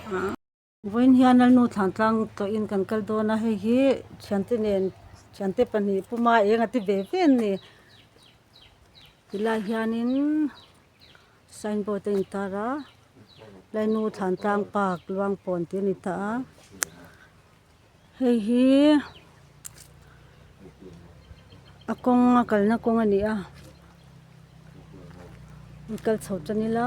Vawiin hian Lalnu Thlantlang tawhin kan kal dawn a, hei hi thiante nen thiante pahnih puma eng a ti ve ve an ni. Ti lai hianin sign board a intar a, Lalnu Thlantlang Park Luangpawn tih a ni ta a. Hei hi a kawnga kalna kawng a ni a, i kal chho tan ila.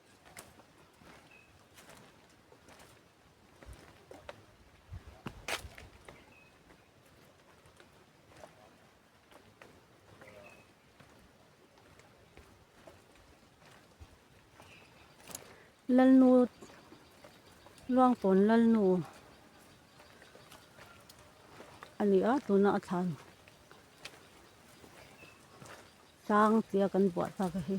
lalnu luangpawn lalnu a ni a tuna a thlan. Sang tia kan buah ta ka hi.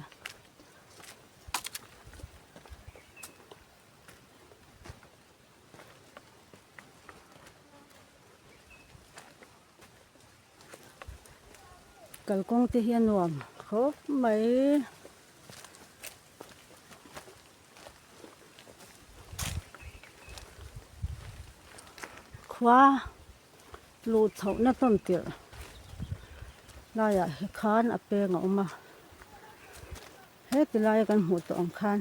Kalkawng te hi a nuam khawp mai. Khua luh chhohna tawn tirh laiah hi khan a peng a awm a. Heti laia kan hmuh tawh ang khan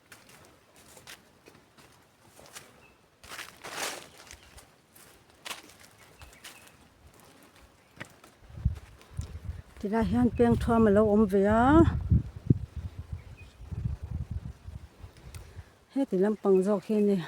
Ti laiah hian peng thuam a lo awm ve a heti lam pang zawk hi ni a.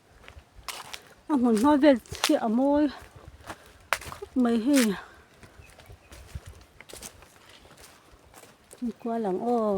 a hmun hma vel hi a mawi khawp mai hei mi kua lang aw.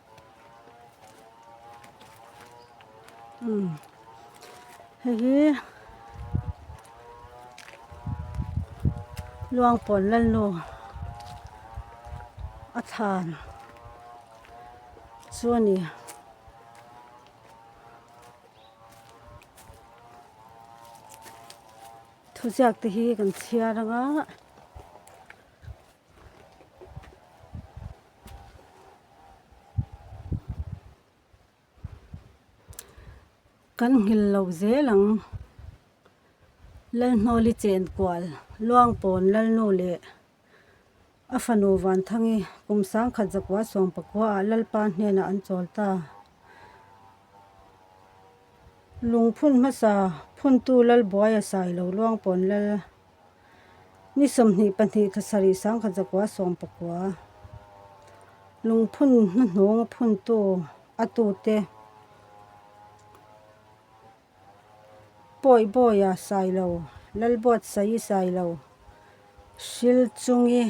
Hei hi Luangpawl Lalnu a thlan chu a ni. Thuziak te hi kan chhiar anga. Kan nghil lo zel ang Lalhnawli chen kual Luangpawn Lalnu leh a fanu Vanthangi kum sangkhat zakua sawmpakua ah Lalpa hnenah an chawl ta. Lungphun hmasa phuntu Lalbuaia sailo Luangpawn Lal. Ni sawmhnih pahnih tha sarih sangkhat zakua sawm pakua lungphun hnuhnung phuntu a tute Pawi Bawia Sailo, Lalbuat Saii Sailo, Hrilchungi.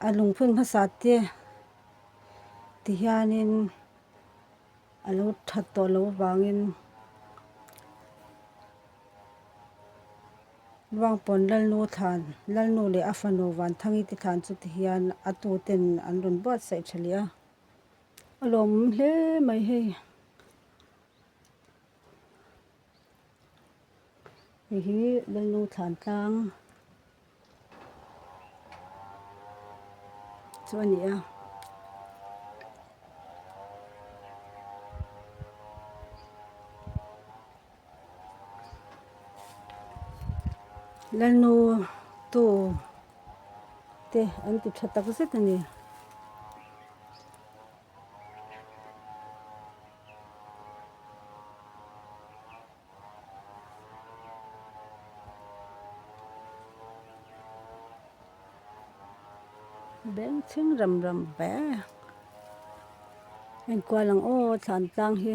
A lungphun hmasa te ti hianin a lo that tawh loh avangin Ruangpawn Lalnu thlan, Lalnu leh a fanu Vanthangi te thlan chu ti hian a tu ten an rawn buatsaih tha leh a. A lawm hle mai hei. Hei hi Lalnu thlan tlang. chu a ni a. Lalnu tu te an ti tha tak zet a ni. Beng chhing ram ram ve enkual ang aw thla an tlang hi.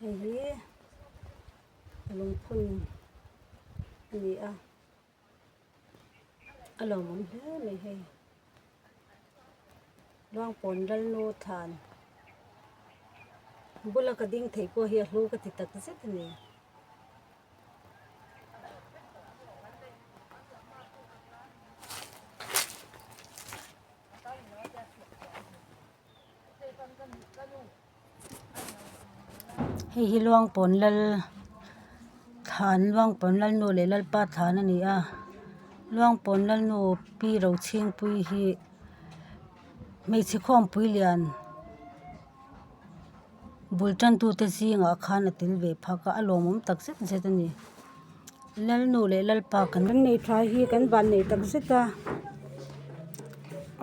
Hei hi lungphun a ni a, a lo awm hle mai hei. Luangpawn Lalnu Than bula ka ding theih pawh hi a hlu ka ti tak zet a ni. hei hi luangpawn lal thlan luangpawn lalnu leh lalpa thlan a ni a luangpawn lalnu pi rochhingpui hi hmeichhe khawmpui lian bul tantute zingah khan a tel ve phak a a lawmawm tak zet zet a ni. Lalnu leh Lalpa kan kan nei tha hi kan van nei tak zet a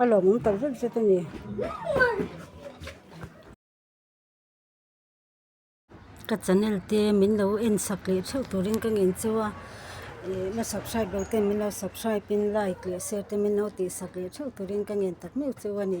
a lawmawm tak zet zet a ni ka channel te min lo en sak leh theuh turin ka ngin chu a ih na subscribe lo ten min lo subscribe in like leh share te min lo tih sak leh theuh turin ka ngen tak meuh chu a ni.